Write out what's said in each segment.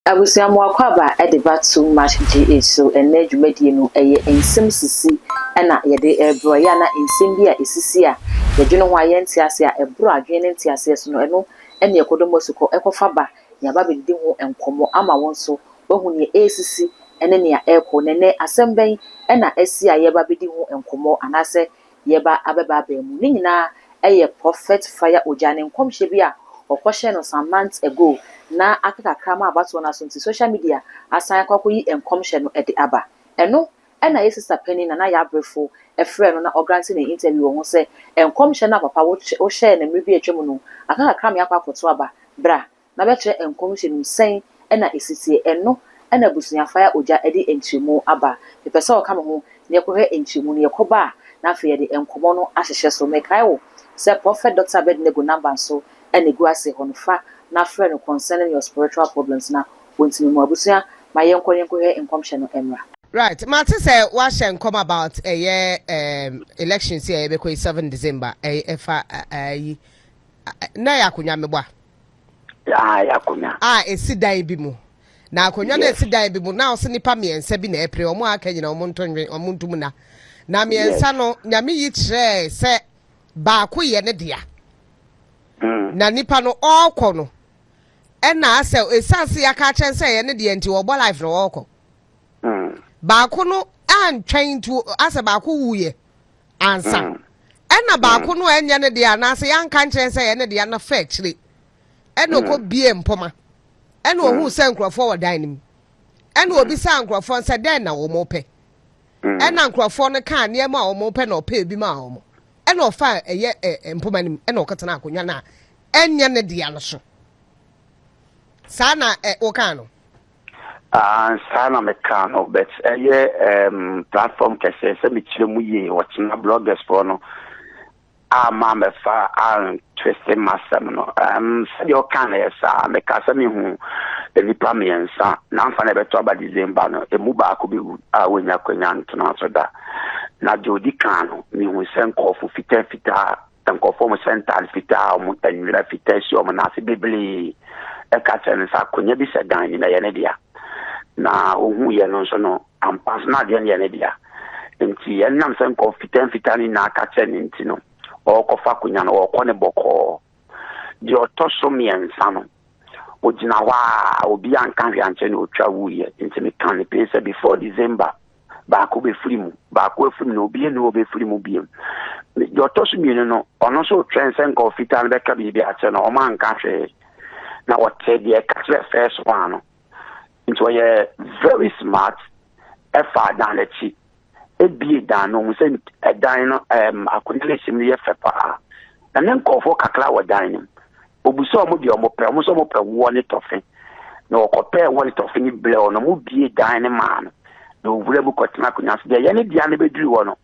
Abusua mu akwaaba de ba too much GH so ɛnnɛ dwumadie no ɛyɛ nsɛm sisi na yɛde ɛrebrɛ ɛyɛ a na nsɛm bi a ɛsisi a yɛdwene ho a yɛnte aseɛ a ɛboro adwene ne nte aseɛ so no ɛno ɛne ɛkɔdɔ mu asukɔ ɛkɔfa ba na yɛaba abɛdidi ho nkɔmmɔ ama wo nso wahu nea ɛresisi ne nea ɛrekɔ na ɛnnɛ asɛm bɛn na asi a yɛreba abɛdi ho nkɔmmɔ anaasɛ yɛba abɛba abɛn mu. Ne nyinaa ɛyɛ prophet fire ogya ne nkɔmhyɛ bi a ɔkɔ hyɛ no some months ago na aka kakra ma abatoɔ no aso nti social media asan akɔ akɔ yi nkɔmhyɛ no ɛde aba. Ɛno ɛna yɛ sister panin Nana Yaa Abrefo ɛfrɛ no na ɔgrante no interview wɔ ho sɛ nkɔmhyɛ no a papa wo hyɛɛ no mmere bi a atwa mu no aka kakra ma yɛ akɔ akɔto aba. Bra na bɛkyerɛ nkɔmhyɛ no mu sɛn na ɛsisie. Ɛno na abusua fire ogya de nkyerɛmu aba. Mepɛ sɛ ɔka me ho na yɛkɔhwɛ nkyerɛmu no. Yɛkɔba a, na afei yɛde nkɔmmɔ no ahyehyɛ so. Mekae wo sɛ Prophet Doctor Abednego number nso na ɛgu ase hɔ no, fa na frɛ no concerning your spiritual problems na wɔntumi mmoa. Abusua, ma yɛnkɔ na yɛnkɔhwɛ nkɔmhyɛ no mmra. Right, mate sɛ woahyɛ nkɔm about ɛyɛ um, elections yi a yɛbɛkɔ yi seven December ɛyi ɛfa ɛyi na ɛyɛ akonnwa mebɔ a. Aye, akonnwa. A esi dan bi mu. Na akonnwa no a esi dan bi mu, na ɔse nipa mmiɛnsa bi na ɛpere, wɔn a aka nyina wɔn nto nwen, wɔn nto mu na. Na mmiɛnsa no, Nyame yi kyerɛɛ sɛ baako yɛ ne dea. Mm. Na nipa no ɔɔkɔ no, ɛna asɛ, ɛsiane sɛ yɛaka akyerɛ no sɛ ɛyɛ ne deɛ nti, wɔbɔ life no ɔɔkɔ. Mm. Baako no antwɛn nti, asɛ baako wuiɛ. ansa. Mm. ɛna mm. baako no a ɛnyɛ ne deɛ anaasɛ yɛanka nkyerɛ sɛ yɛ ne deɛ na fa akyire ɛna ɔkɔ mm. bie mpoma ɛna ɔhuu sɛ nkurɔfoɔ wɔ dan no mu ɛna ɔbisaa nkurɔfoɔ sɛ dɛn na wɔn pɛ ɛna nkurɔfoɔ no kaa nneɛma a wɔn pɛ na ɔpɛ ebi ma wɔn ɛna ɔfa ɛyɛ ɛ mpoma no mu ɛna ɔkɔtena akonnwa no a ɛnyɛ ne deɛ no so saa na ɛ wɔkaa no. Aah saa na me kaa no but ɛyɛ um, platform kɛsɛ sɛ mekyerɛ mu yie wɔkyena bloggers foɔ no a ma mɛfa a twese masɛm no um, sɛdeɛ ɔka no yɛ saa meka sɛ mehu nnipa mmiɛnsa na mfa na ɛbɛtɔ aba December no ɛmu baako bɛwu a wɔnya kwanya ntena so da na deɛ ɔdi kan no mehu sɛ nkɔɔfo fitaa fitaa Nkurɔfoɔ wɔhyɛ ntaade fitaa, wɔn nwera fitaa si wɔn nan ase bebree. Ɛka kyerɛ no sɛ akonnwa bi sɛ dan nim, ɛyɛ ne dea. Na ɔhuiɛ no nso no, ampa nso na adeɛ no yɛ ne dea. Nti ɛnam sɛ nkɔ fitaa mfitaa no nyinaa ka kyerɛ ne nti no, ɔrekɔfa akonnwa no, ɔrekɔ ne bɔkɔɔ. Deɛ ɔtɔ so mmiɛnsa no, ɔgyina hɔ a, obiara nka hwee ankyerɛ no, ɔtwa wuiɛ. Nti meka ne pɛn sɛ before December, baako bɛfiri mu baako afiri mu na obi ani wɔbɛfiri mu biom deɛ ɔtɔ so mmienu no ɔno nso twɛn sɛ nka ɔfitaa no bɛka biribi akyɛ no ɔma nka hwee na ɔte deɛ ɛka kyerɛ first one no nti ɔyɛ very smart ɛfa dan no akyi ebie dan no ɔhu sɛ ɛdan no ɛm akonnwa no ahyɛm no yɛ fɛ paa na ne nkɔɔfoɔ kakra wɔ dan no mu Obusa ɔmo deɛ ɔmo pɛ, ɔmo sɛ ɔmo pɛ woɔ ne tɔfe, na ɔkɔpɛɛ woɔ ne tɔfe no brɛɛ ɔno, ɔmo bue dan no maa no, na owura mu kɔtena akonwa so. Deɛ ɛyɛ ne dea no bɛduru hɔ no,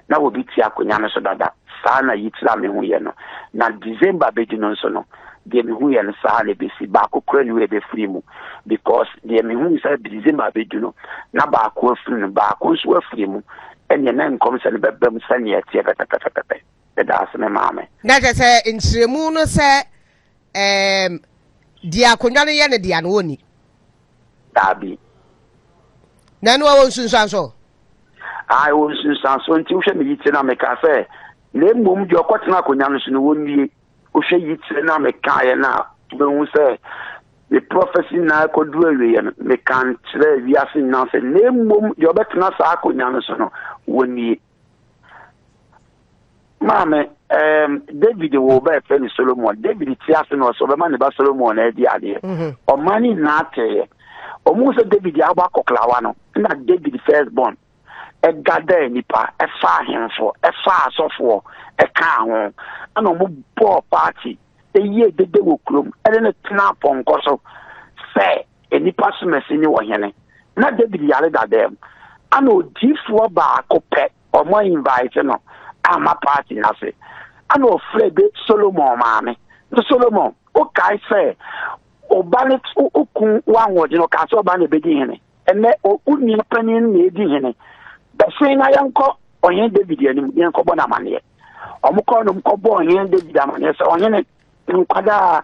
na obi te akonwa no so dada. Saa na yikyerɛ a mehuiɛ no, na December bɛdu no nso no, deɛ mehuiɛ no saa na ɛbɛsi, baako koraa nni hɔ a ɛbɛfiri mu, because deɛ mehui sɛ December bɛdu no, na baako afiri no, baako nso afiri mu, ɛnneɛ na nkɔmhyɛ no bɛbam sɛdeɛ ɛteɛ pɛpɛpɛpɛpɛ. Meda ase me maame. Na kyerɛ sɛ nkyerɛmu no sɛ ɛɛm deɛ akonnwa no yɛ ne dea no wɔnni. Daabi. Na ɛno ɛwɔ nsunsuanso? A ɛwɔ nsunsuanso nti wohwɛ me yitire na meka sɛ na mmom deɛ ɔkɔtena akonnwa no so no wɔnnie. Wohwɛ yitire na mekaeɛ no a wobɛhu sɛ me prɔfɛsi na ɛkɔduru awieɛ no meka nkyerɛ wiase nyinaa sɛ na mmom deɛ ɔbɛtena saa akonnwa no so no wɔnnie. maame ɛɛm david wo bɛɛ fɛ ne solomon david ti ase na ɔsɛ ɔbɛma ne ba solomon na ɛdi adeɛ mhm. ɔma ne nyinaa tɛɛ ɔmo sɛ david abɔ akɔklawa no na david first born ɛdada nipa ɛfa ahemfo ɛfa asɔfoɔ ɛkaa ho ɛna ɔmo bɔɔ paati ɛyie dede wɔ kurom ɛde ne tena pɔnkɔ so sɛ nnipa som asi ne ɔhene. Na David yare dada mu. Ana odiifoɔ baako pɛ, wɔn a invite no amma party no ase. Ana ɔfrɛ de Solomon maame. Ne Solomon, wokae sɛ ɔba no oku w'ahoɔden, ɔkaa sɛ ɔba no ɛbɛdi hene. Ɛnɛ onua panin no na ɛdi hene. Bɛsen na yɛnkɔ ɔhene David anim, yɛnkɔbɔ no amanneɛ. Wɔkɔɔ no kɔbɔɔ ɔhene David amanneɛ sɛ, ɔhene, Nkwadaa,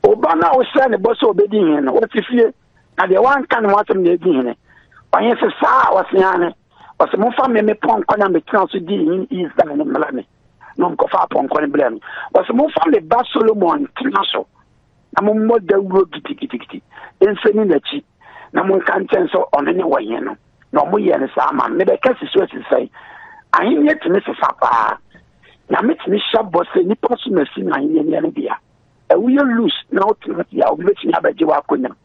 oba no a wohyɛ ne bɔ sɛ ɔbɛdi hene no, wɔte fie, na deɛ wanka ne ho asɛm na ɛdi hene. Ɔhene se saa a ɔse ane, ɔse momfa me me pɔnkɔ na metena so di hene Israel no mmra me, na ɔmkɔfa apɔnkɔ no brɛ no. Ɔse momfa me ba Solomon ntena so, na mommɔ dawuro gidigidigidi mfiri ne n'akyi, na monka nkyɛn sɛ ɔno ne ɔhene no. na ɔmo yɛ no saa ama no mebɛ kɛse so asi sɛn ahenni tumi sesa paa nyame tumi hyɛ bɔ sɛ nipa so na si na ahenni no bia ɛwo yɛ loose na wotena se a obi bɛtumi abɛgye w'akɔnyam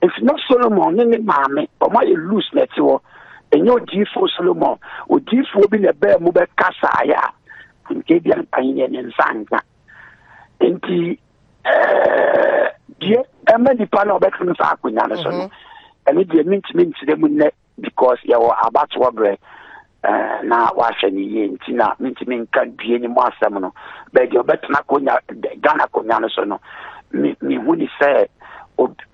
nti na solomon ne ne maame ɔmo ayɛ loose na ɛte hɔ ɛnyɛ odiifoɔ solomon odiifoɔ bi na ɛbɛɛ mu bɛka saayɛ a nka bia ahenni ne nsa nka nti deɛ ɛma nipa no ɔbɛte no saa akonnwa no so no mm-hmm. ɛno deɛ mentumi nkyerɛ mu nnɛ because yɛwɔ abatoɔ berɛ eh, na wahwɛ ne yie nti na mentumi nka due ne mu asɛm no bɛɛ deɛ ɔbɛtena akonnwa ghana akonnwa no so no mehu ne sɛ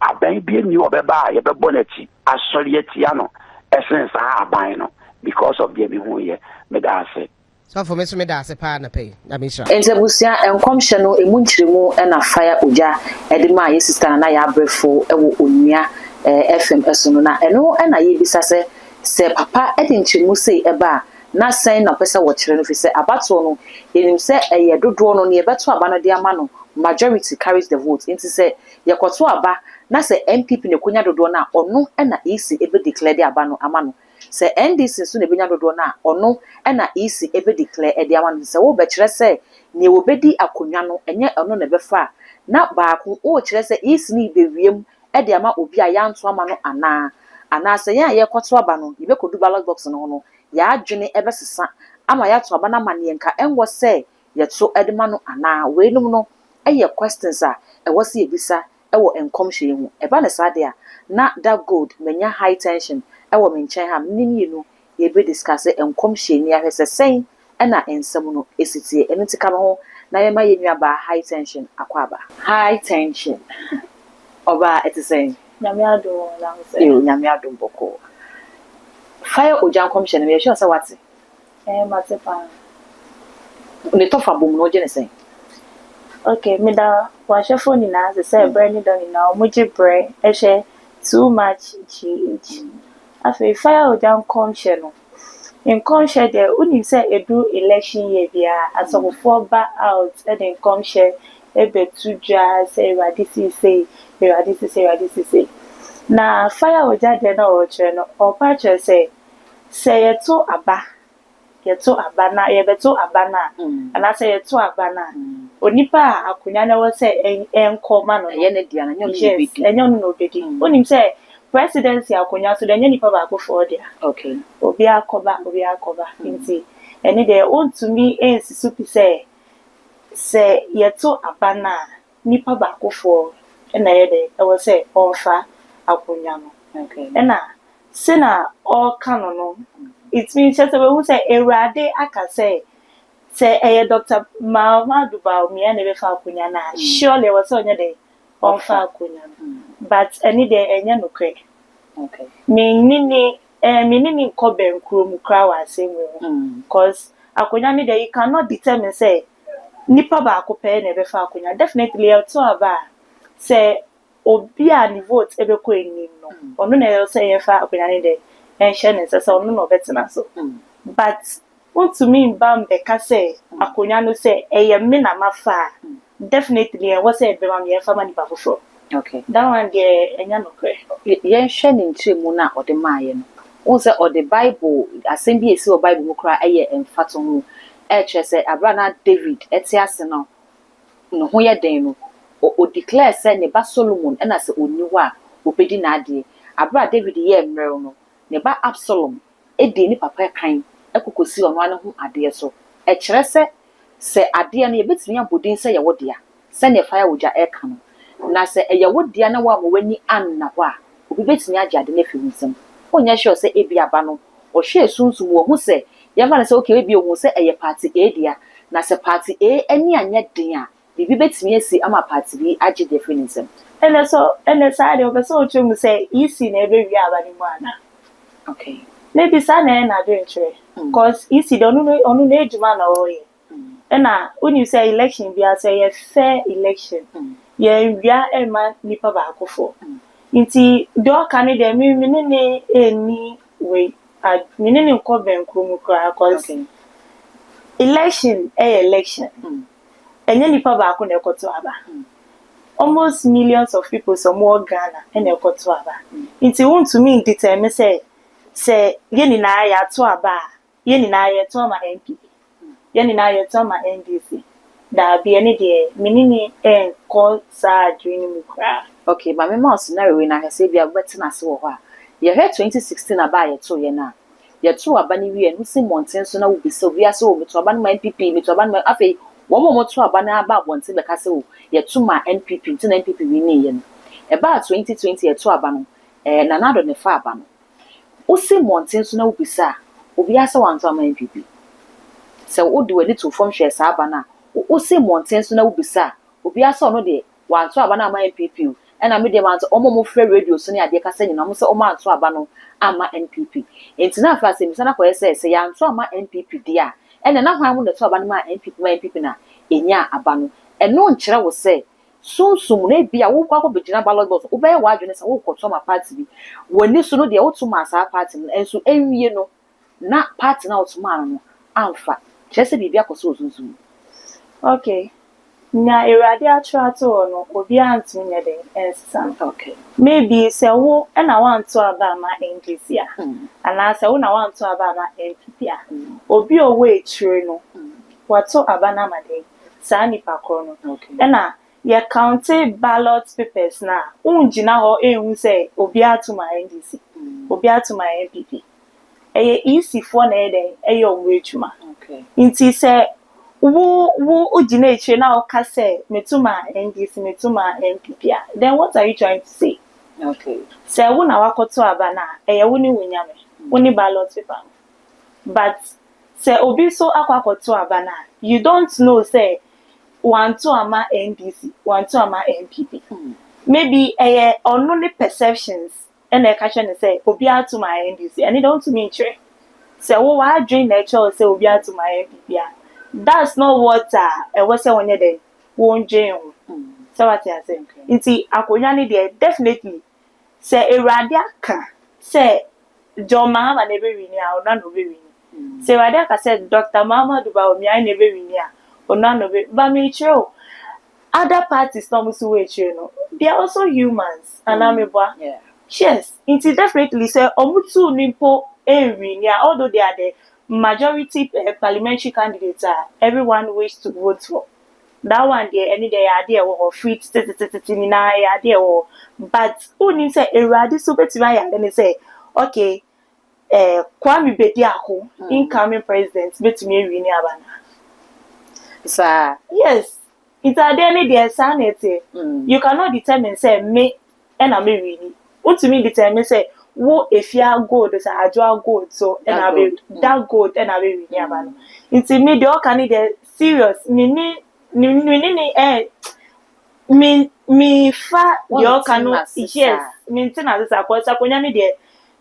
aban bi nni ɔbɛba a yɛbɛbɔ no akyi asɔre atia no ɛsen saa aban no because of deɛ mehu yɛ meda ase Sɔfo me nso meda ase paa anapa yi. Nyame nhyira. Enti abusua nkɔmhyɛ no ɛmu nkyerɛmu ɛna fire ogya ɛde maa yɛ sister nana yɛ abrefo ɛwɔ onua ɛɛ FM ɛso no na ɛno ɛna yɛbisa sɛ sɛ papa ɛde nkyerɛmu sei ɛba a na sɛn na ɔpɛsɛ wɔkyerɛ no firi sɛ abatoɔ no yɛnim sɛ ɛyɛ dodoɔ no neɛ ɛbɛto aba no de ama no majority carries the vote enti sɛ yɛkɔto aba na sɛ NPP na ɛkɔnya dodoɔ no a ɔno ɛna EC ɛbɛ declare de aba no ama no Sɛ NDC nso na ɛbɛnya dodoɔ no a, ɔno na EC bɛ declare de ama no. Sɛ worebɛkyerɛ sɛ neɛ wɔbɛdi akonnwa no ɛnyɛ ɔno na ɛbɛfa a, na baako worekyerɛ sɛ EC no rebɛwie mu de ama obi a yɛanto ama no anaa? Anaa sɛ yɛn a yɛrekɔto aba no yɛbɛkɔdu ballot box no ho no yɛn adwene bɛsesa ama yɛato aba no ama neɛ nka ɛnwɔ sɛ yɛto de ma no anaa? Weinom no yɛ questions a ɛwɔ sɛ yɛbisa wɔ nkɔmhyɛ yi ho. Ɛba no saa deɛ a, na da Gold manya high tension wɔ me nkyɛn ha a, me ne mmienu yɛbɛ discuss nkɔmhyɛ yi ahwɛ sɛ sɛn na nsɛm no si teɛ. Ɛno nti ka me ho na yɛmma yɛn nua baa High Tension akwaaba. High Tension, ɔbaa ɛte sɛn? Nyame adom o, na wo sɛ? Yoo, Nyame adom bɔkɔɔ. Fa yɛ ogya nkɔmhyɛ no, meyɛ sure sɛ wate. Ɛɛ mate paa. Ne tɔfa bom no wogye ne sɛn? Ok meda w'ahwɛfoɔ nyinaa ase sɛ berɛ ne dɔ nyinaa wɔn gye berɛ hwɛ too much GH afei fire ogya nkɔmhyɛ no nkɔmhyɛ deɛ wonim sɛ ɛduru election year biara asɔfofoɔ ba out de nkɔmhyɛ bɛto dwa sɛ awurade sii sei awurade sii sei awurade sii sei na fire ogya deɛ na ɔrekyerɛ no ɔrepa kyerɛ sɛ Sɛ yɛto aba, yɛto aba na yɛbɛto aba no a, anaasɛ yɛto aba no a, onipa a akonnwa no wɔ sɛ ɛnkɔ ma no no, ɛnyɛ ne dea, ɛnyɛ ɔno na obedi. Ɛnyɛ ɔno na obedi. Wonim sɛ presidency akonnwa nso deɛ ɛnyɛ nipa baakofoɔ dea. Okay. Obiara kɔba, obiara kɔba. Nti ɛne deɛ wontumi nsi so pi sɛ sɛ yɛto aba no a, nipa baakofoɔ na ɛyɛ dɛ ɛwɔ sɛ ɔfa akonnwa no. Ɛna sɛna ɔreka no no, ɛtumi kyerɛ sɛ wahu sɛ Awurade aka sɛ, sɛ ɛyɛ Doctor Mahamudu Bawumia na ɛbɛfa akonnwa no a, surely ɛwɔ sɛ ɔnyɛ dɛ ɔfa akonnwa no. But ɛno deɛ ɛnyɛ nokorɛ. Me ne no eh, me ne no nkɔ bɛnkorɔ mu koraa wɔ asɛm wei ho. Cause akonnwa no deɛ you cannot determine sɛ nipa baako pɛ na ɛbɛfa akonya. Definitely ɛto aba a, sɛ obi a ne vote ɛbɛkɔ anim no, ɔno na ɛwɔ sɛ yɛfa akonya no dɛ ɛnhyɛ ne nsa sɛ ɔno na ɔbɛtena so. But wontumi mba mbɛka sɛ akonya no sɛ ɛyɛ me na mafa a, definitely ɛwɔ sɛ bɛma me, yɛmfa ma nipa foforɔ. That one deɛ ɛnyɛ nokorɛ. Yɛnhwɛ ne nkyerɛmu no a ɔde maeɛ no, wohu sɛ ɔde Bible, asɛm bi a ɛsi wɔ Bible mu koraa yɛ mfatoho. Ɛkyerɛ sɛ bere a na Dawid te ase no, ne ho yɛ den no, ɔ declare sɛ ne ba Solomon na sɛ onni hɔ a, obedi n'ade. Bere a Dawid yɛɛ mmerɛw no, ne ba Absalom dii ne papa kan kɔ kosii ɔno ara ne ho ade so. Ɛkyerɛ sɛ, sɛ ade no, yebetumi abɔ din sɛ ɛyɛ wo dea. sɛnea firewood a ɛka no. Na sɛ ɛyɛ wo dea na woamma w'ani anna hɔ a, obi betumi agye ade no afi wo nsam. Wonyɛ sure sɛ ebia ba no ɔhwɛɛ sunsum mu ohu sɛ, yɛmfa no sɛ okay, ebia ohuu sɛ ɛyɛ Party A dea, na sɛ Party A ani anyɛ den a, biribi betumi asi ama Party B agye de afi ne nsam. Ɛnna sɛ ɛne saa de, ɔpɛ sɛ ɔkyerɛ mu sɛ EC na ɛbɛwie aba no mu anaa? Okay. Maybe saa na ɛyɛ n'adwenkyerɛ. Cos EC deɛ ɔno no, ɔno n'adwuma na ɔreyɛ. Ɛna wonim sɛ election biara sɛ ɛyɛ fair election yɛnwia ɛma nipa baako fo nti deɛ ɔka ne deɛ me me ne ne ɛni wei ad me ne ne nkɔ bɛnkoro mu koraa cause election ɛyɛ election ɛnyɛ nipa baako na ɛkɔto aba almost millions of people sɛ ɔmo wɔ Ghana ɛna ɛkɔto aba nti wontumi ndetermine sɛ sɛ yɛn nyinaa yɛato aba a. Yɛn nyinaa yɛtoɔ ma NPP. Yɛn nyinaa yɛtoɔ ma NDC. Daabi, ɛno deɛ, me ne no nkɔ saa adwene no mu koraa. Ok, ma me ma wo scenario wei na hwɛ sɛ ebia wobɛtena ase wɔ hɔ a. Yɛhwɛ 2016 aba a yɛtoo yɛn no a, yɛtoo aba no wieɛ no, wosi mmɔnten so na wobisa obiara sɛ o, meto aba no ma NPP, meto aba no ma, afei wɔn a wɔtoo aba no ara ba abɔnten bɛka sɛ o, yɛto maa NPP nti na NPP winnieɛ no. Ɛbaa 2020 yɛtoo aba no, ɛɛ, Nana Addo na ɛfaa aba no. Wosi mmɔnten so na wubisa a, obiara sɛ wantɔ ama yɛn biribi. Sɛ wode w'ani to fam hwɛ saa aba no a, wosi mmɔnten so na wubisa a, obiara sɛ ɔno deɛ wantɔ aba no amma NPP o, ɛna me deɛ mantɔ, wɔn a wɔfrɛ radio so ne adeɛ kasa nyinaa, wɔn sɛ wɔantɔ aba no amma NPP. Enti na afei asɛmmisa no akɔyɛ sɛ, sɛ yɛantɔ amma NPP deɛ a, ɛnneɛ na hwan na ɛtɔɔ aba no maa NPP ma NPP na ɛnyaa aba no? Ɛno nkyerɛ wo sɛ Sunsum no, ebia worekɔ akɔbegyina ballot box no, wobɛyɛ w'adwene sɛ worekɔto ama party bi. W'ani so no deɛ, woto maa saa party no, nanso awie no, na party no a woto maa no no amfa. Kyerɛ sɛ biribi akɔ so wɔ sunsum mu. Okay. Nea Awurade ato ato hɔ no, obiara ntumi nyɛ dɛn nsesa no. Okay. Maybe sɛ wo na woanto aba amma NDC a, anaasɛ wo na woanto aba amma NPP a, obi a ɔwɔ akyire no, wato aba no ama dɛn? saa nipa korɔ no ɛna yɛ counte ballot papers no a wongyina hɔ nhu sɛ obi ato ma NDC obi ato ma NPP ɛyɛ EC foɔ na ɛyɛ dɛn ɛyɛ ɔmo adwuma nti sɛ wo wo wogyina akyire na woka sɛ meto ma NDC meto ma NPP a then what are you trying to say sɛ wo na wakɔto aba no a ɛyɛ wo ne wo nyame wo ne ballot paper no. but sɛ obi nso akɔ akɔto aba no a, you don't know sɛ wanto amma NDC, wanto amma NPP. Maybe ɛyɛ ɔno ne perceptions na ɛka kyerɛ no sɛ obiara ato ma NDC, ɛno deɛ wontumi nkyerɛ. Sɛ wo w'adwene na ɛkyerɛ wo sɛ obiara ato ma NPP a, that's not what a ɛwɔ sɛ wonyɛ dɛn, wondwene ho. Sɛ woate aseɛ? Nti akonnwa no deɛ, definitely Sɛ Awurade aka sɛ John Mahama na ɛbɛwini a, ɔno ara na ɔbɛwini. Sɛ Awurade aka sɛ Dɔkta Muhammadu Bawumia na ɛbɛwini a, ɔno ara na ɔbɛwini. But merekyerɛ wo, other parties na wɔn nso wɔ akyire no, they are also humans, anaa meboa? Yes, nti definitely sɛ wɔn two no mpo ɛnwini a, although they are the majority parliamentary candidates a everyone wish to vote for. That one deɛ ɛno deɛ ɛyɛ adeɛ ɛwɔ hɔ firi tetetetete nyinaa ɛyɛ adeɛ ɛwɔ hɔ but wonim sɛ awurade so bɛtumi ayɛ ade ne sɛ okay eh, Kwame Bediako mm. incoming president bɛtumi awi ne aba no saa yes nti adeɛ ne deɛ saa na ɛteɛ mm. you cannot determine sɛ me ɛna me wini wo tumi bitan me sɛ wo efia gold sɛ adwoa gold so ɛna abɛ da gold ɛna abɛ wini aba no nti me deɛ ɔka ne deɛ serious me ni ne ne ne ɛɛ me me fa deɛ ɔka no yes me nti na sesa akɔ sakonya ne deɛ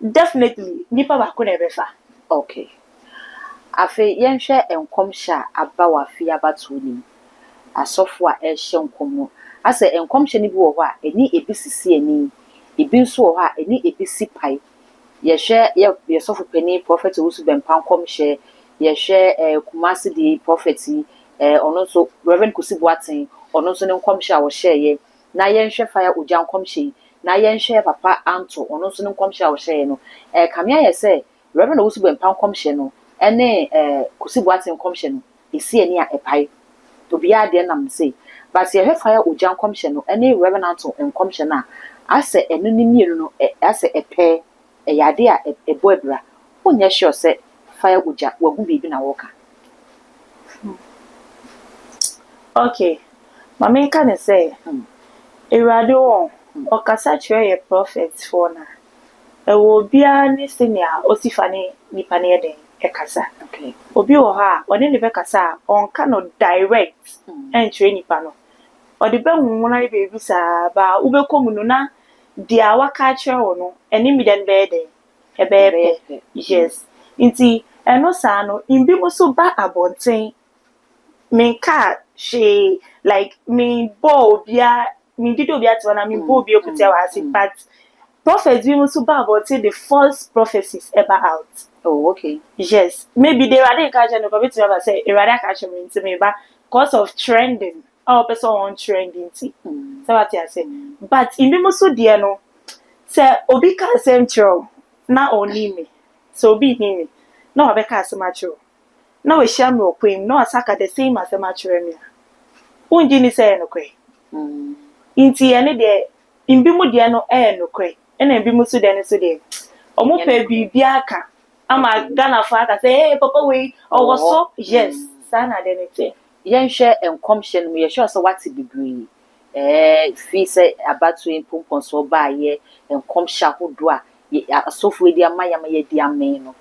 Definitely nipa baako na ɛbɛfa. Okay afei yɛnhwɛ nkɔmhyɛ a aba wɔ afei abatoɔ no mu. Asɔfoɔ a ɛrehyɛ nkɔm no asɛ nkɔmhyɛ no bi wɔ hɔ a ɛne ebi sisi ani, ebi nso wɔ hɔ a ɛne ebi si pae. Yɛhwɛ yɛ yɛ sɔfo panin Prɔfɛt Owusu Bɛmpa nkɔmhyɛ, yɛhwɛ ɛɛ Kumasi deɛ yi Prɔfɛt yi ɛɛ ɔno nso Rev. Kusi Boateng ɔno nso ne nkɔmhyɛ a ɔhyɛeɛ na yɛnhwɛ fire ogya nkɔmhyɛ yi na yɛnhwɛ papa anto ɔno nso ne nkɔmhyɛ a ɔhyɛɛ no eh, kame ayɛ sɛ Reverend Owusu Bempah nkɔmhyɛ no ɛne eh, Kosi Boateng nkɔmhyɛ no ɛsi ani a ɛpae obiara deɛ nam no sei but yɛhwɛ fire ogya nkɔmhyɛ no ɛne Reverend Anto nkɔmhyɛ no a asɛ ɛno ne mmienu no eh, asɛ ɛpɛ ɛyɛ ade a ɛbɔ abira. Wonyɛ sure sɛ fire ogya wagu biribi na wɔka. Ok ma menka no sɛ Awurade o ɔkasa kyerɛ yɛ prophet foɔ no a ɛwɔ obiara ne sɛnea ɔsi fa ne nipa no yɛ dɛn kasa obi wɔ hɔ a ɔne no bɛkasa a ɔnka no direct nkyerɛ nipa no ɔde bɛnwonwona ne biribi saa baa wobɛkɔ mu no na deɛ waka akyerɛ wo no ɛne me deɛ no bɛyɛ dɛn? Ɛbɛyɛ pɛ. Ɛbɛyɛ pɛ. Yes. Nti ɛno saa no, mbinom nso ba abɔnten, menkaa hwee, like mebɔɔ obiara, mendidi obiara atɛm anaa Mm, mebɔɔ obiara mm, akutia wɔ ase, mm. but prophets binom nso ba abɔnten de false prophecies ɛba out. Oh, okay. Yes. Maybe deɛ Awurade nka akyerɛ no, nka obetumi aba sɛ Awurade aka akyerɛ me nti meba, cause of trending. a wɔpɛ sɛ wɔn kyerɛ no nti sɛ wate ase but ebi mo so deɛ no sɛ obi ka asɛm kyerɛ o na ɔni mi sɛ obi ni mi na wabɛka asɛm akyerɛ o na wahyia mi wɔ kwan mu na wasa ka the same asɛm akyerɛ mi a wongye ni sɛ ɛyɛ nokorɛ mm. nti yɛ ne deɛ ebi mo deɛ no ɛyɛ nokorɛ ɛna ebi mo so deɛ no so deɛ ɔmo pɛ biribi aka ama ghana fo aka sɛ ee papa wei ɔwɔ so yes mm. saa na adeɛ no teɛ. yɛnhwɛ nkɔmhyɛ no mu, yɛ sure sɛ wate bebree ɛɛ firi sɛ abatoɔ yi mpo nkɔnsoɔ baayɛ nkɔmhyɛ ahodoɔ a yɛ asɔfoɔ adi ama yɛ ama yɛadi amee no.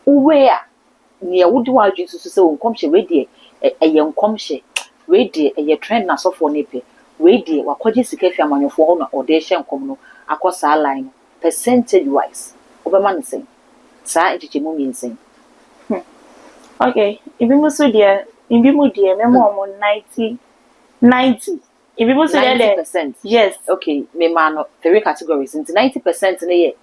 Wowei a, neɛ wode w'adwene susu sɛ o nkɔmhyɛ wei deɛ ɛ ɛyɛ nkɔmhyɛ, wei deɛ ɛyɛ trend na asɔfoɔ no repɛ, wei deɛ wakɔgye sika firi amanyɔfoɔ hɔ na ɔde rehyɛ nkɔm no akɔ saa line no. Percentage-wise, wobɛma no sɛn? Saa nkyekyɛmu mmiɛnsa yi. Hmm, okay. Ebinom nso deɛ, ebinom deɛ mɛma wɔn hmm. ninety, ninety. Ebinom nso deɛ deɛ. percent. Yes. Okay, mema no three categories nti ninety percent no yɛ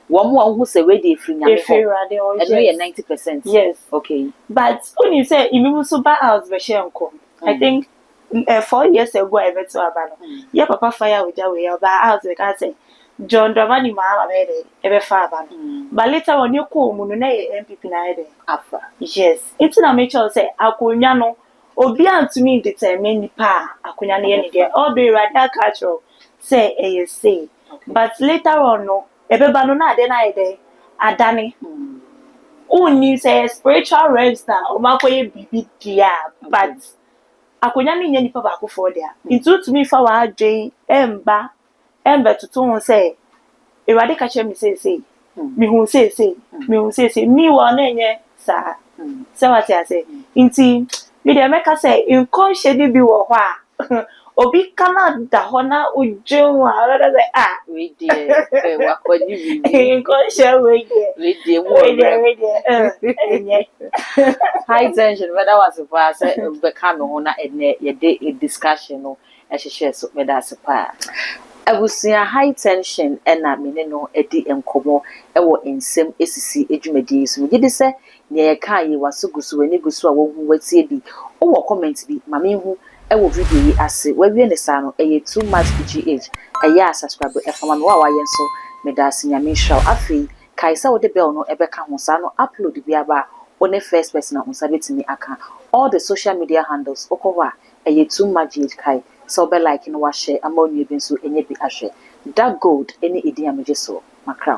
wɔn a wɔhu sɛ wei deɛ efiri nyame hɔ. Oh, Ɛno yɛ ninety percent. Yes. Okay. But only sɛ ebinom nso ba house bɛhyɛ nkɔm. I hmm. think eh, four years ago a yɛbɛte aba no yɛ papa fa yɛ a ogya wei a ɔbaa out bɛka sɛ john dramani maa ma bɛyɛ dɛ ɛbɛfa aba no ba later wɔn yɛ kɔɔ mu no na yɛ npp na ayɛ dɛ afa yes nti na mekyɛw sɛ akonnwa no obi antumi determine nipa a akonnwa no yɛ ne deɛ ɔdɔ awurade aka akyerɛw sɛ ɛyɛ sei but later on no ɛbɛba no na adeɛ no ayɛ dɛ adane wonnim sɛ yɛ spiritual realms na ɔmakɔyɛ biribi deɛ a but Akonnwa no nyɛ nipa baakofoɔ dea, nti wotumi mfa w'adwene mma mmɛtoto ho sɛ, Awurade ka kyerɛ me seesei, mehu seesei, mehu seesei. Meanwhile na ɛnyɛ saa. Sɛ woate aseɛ? Nti medeɛ mɛka sɛ nkɔmhyɛ no bi wɔ hɔ a, Obi ka na da hɔ na wodwen ho a wobɛka sɛ ah. Wei deɛ wakɔgye biribi. Nkɔnhyɛ wei deɛ. Wei deɛ mu ɔbrɛ. Wei deɛ wei deɛ ɛnyɛ. High tension mɛda wase paa sɛ bɛka no ho na ɛnɛ yɛde discussion no ɛhyehyɛ so mɛda ase paa. Abusua High tension ɛna me ne no adi nkɔmɔ ɛwɔ nsɛm ɛsisi dwumadie yi so. Megyedi sɛ nea yɛkaa yi waso guso wani guso a wohu watie bi wowɔ comment bi ma me nhu wɔ video yi ase wawie ne saa no ɛyɛ too much GH ɛyɛ a subscribe ɛfa ma me wo a wayɛ nso medaase nyame nhyira wo afei kae sɛ wode bell no ɛbɛka ho saa no upload bi aba a wone first person a wo nsa bɛtumi aka all the social media handles wokɔ hɔ a ɛyɛ too much GH kae sɛ wobɛ like no wahyɛ ama onua bi nso ɛnyɛ bi ahwɛ da gold ɛne ɛdin a megye so makra